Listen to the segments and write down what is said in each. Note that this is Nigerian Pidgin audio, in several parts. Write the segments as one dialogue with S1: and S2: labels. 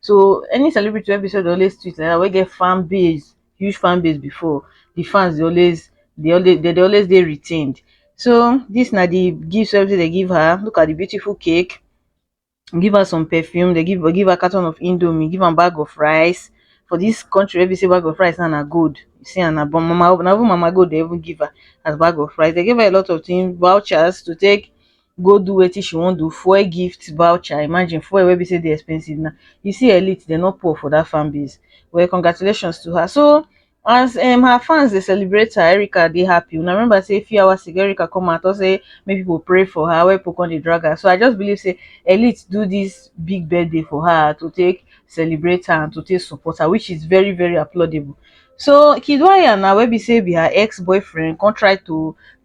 S1: So any celebrity wey be sey dey always tweet like dat wey get fan base, huge fan base before, de fans dey always dey always dey dey always dey retained. So dis na de gift wey be sey dey give her, look at de beautiful cake, give her some perfume, dey give give her carton of indomie, give am bag of rice, for dis country wey be sey bag of rice now na gold, you see am na but mama na even mama gold dey even give her as bag of rice. Dey give her a lot of things, vouchers to take go do wetin she wan do, fuel gift voucher, imagine fuel wey be sey dey expensive now, you see elite dem no poor for dat fan base, well congratulations to her. So as um her fans dey celebrate her, Erica dey happy, una remember sey few hours ago Erica come out talk sey make pipu pray for her wen pipu come dey drag her, so I just believe sey elite do dis big birthday for her to take celebrate her and to take support her which is very very applaudable. So Kiddwaya now wey be sey be her ex boyfriend come try to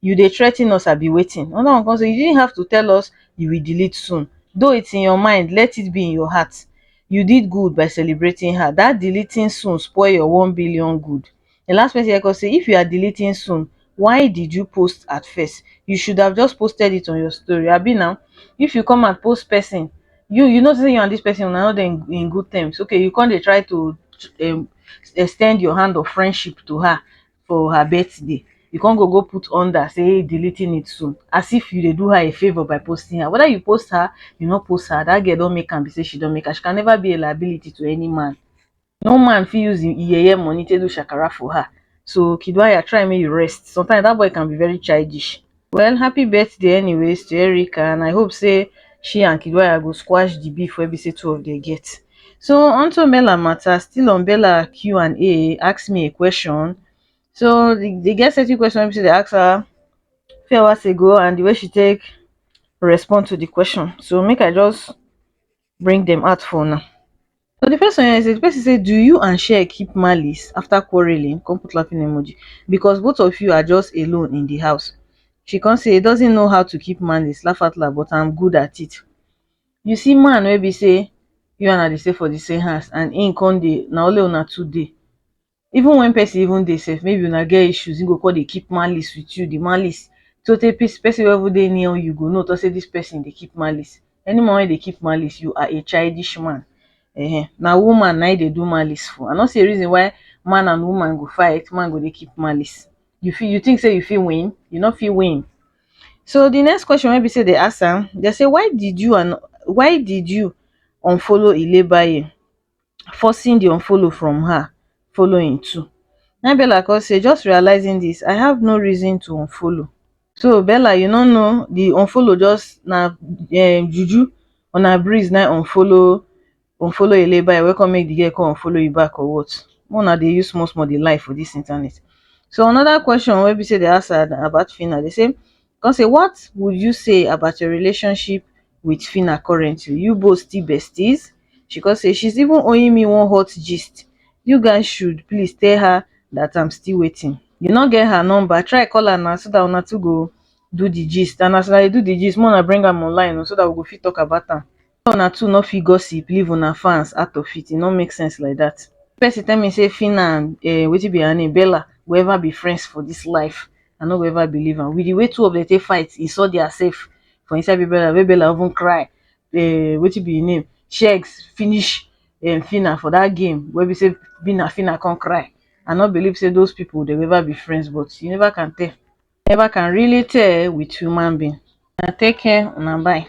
S1: you dey threa ten us abi wetin? Another one come say you didn't have to tell us you will delete soon though it's in your mind let it be in your heart you did good by celebrating her that deleting soon spoil your one billion good the last message come say if you are deleting soon why did you post at first you should have just posted it on your story abi na if you come and post person you you know say you and this person una no dey in in good terms okay you come dey try to um extend your hand of friendship to her for her birthday you come go go put under say deleting it soon as if you dey do her a favor by posting her whether you post her you no post her that girl don make am be say she don make her she can never be a liability to any man no man fit use im yeye money take do shakara for her so kiduaya try make you rest sometimes that boy can be very childish well happy birthday anyways to Erica and I hope say she and Kiddwaya go squash the beef wey be say two of them get. So onto Bella matter, still on Bella Q&A, ask me a question. So the, the girl set you question wey be say they ask her few hours ago and the way she take respond to the question. So make I just bring dem out for una so the first one here say the person say do you and share keep malice after quarreling come put laughing emoji because both of you are just alone in the house she come say he doesn't know how to keep malice laugh out loud but i'm good at it you see man wey be say you and i dey stay for the same house and him come dey na only una two dey even when person even dey sef maybe una get issues him go come dey keep malice with you the malice so tey pis person wey even dey near you go know talk say this person dey keep malice any man wey dey keep malice you are a childish man um na woman na him dey do malice for I no see a reason why man and woman go fight man go dey keep malice you fit you think say you fit win you no fit win so the next question wey be say dey ask am dey say why did you and why did you unfollow ilebaye forcing di unfollow from her following too na im bella come say just realising dis i have no reason to unfollow so bella you no know di unfollow just na um juju or na breeze na im unfollow unfollow eyeleibae wey come make di girl come unfollow you back or what make una dey use small small dey lie for dis internet so another question wey be say dem ask her about phyna dem say come say what would you say about your relationship with Phyna currently? You both still besties? She come say she's even owing me one hot gist. You guys should please tell her that I'm still waiting. You no get her number, try call her now so that una two go do the gist and as una dey do the gist, make una bring am online o so that we go fit talk about am. why una two no fit gossip leave una fans out of it, e no make sense like that. If person tell me say Phyna and um wetin be her name Bella go ever be friends for this life, I no go ever believe am. With the way two of them take fight, insult their self for inside Big Brother wey Bella even cry um wetin be im name Shegs finish um Phyna for that game wey be say be na Phyna come cry. I no believe say those people they go ever be friends but you never can tell. Never can really tell with human being. Una take care, una bye.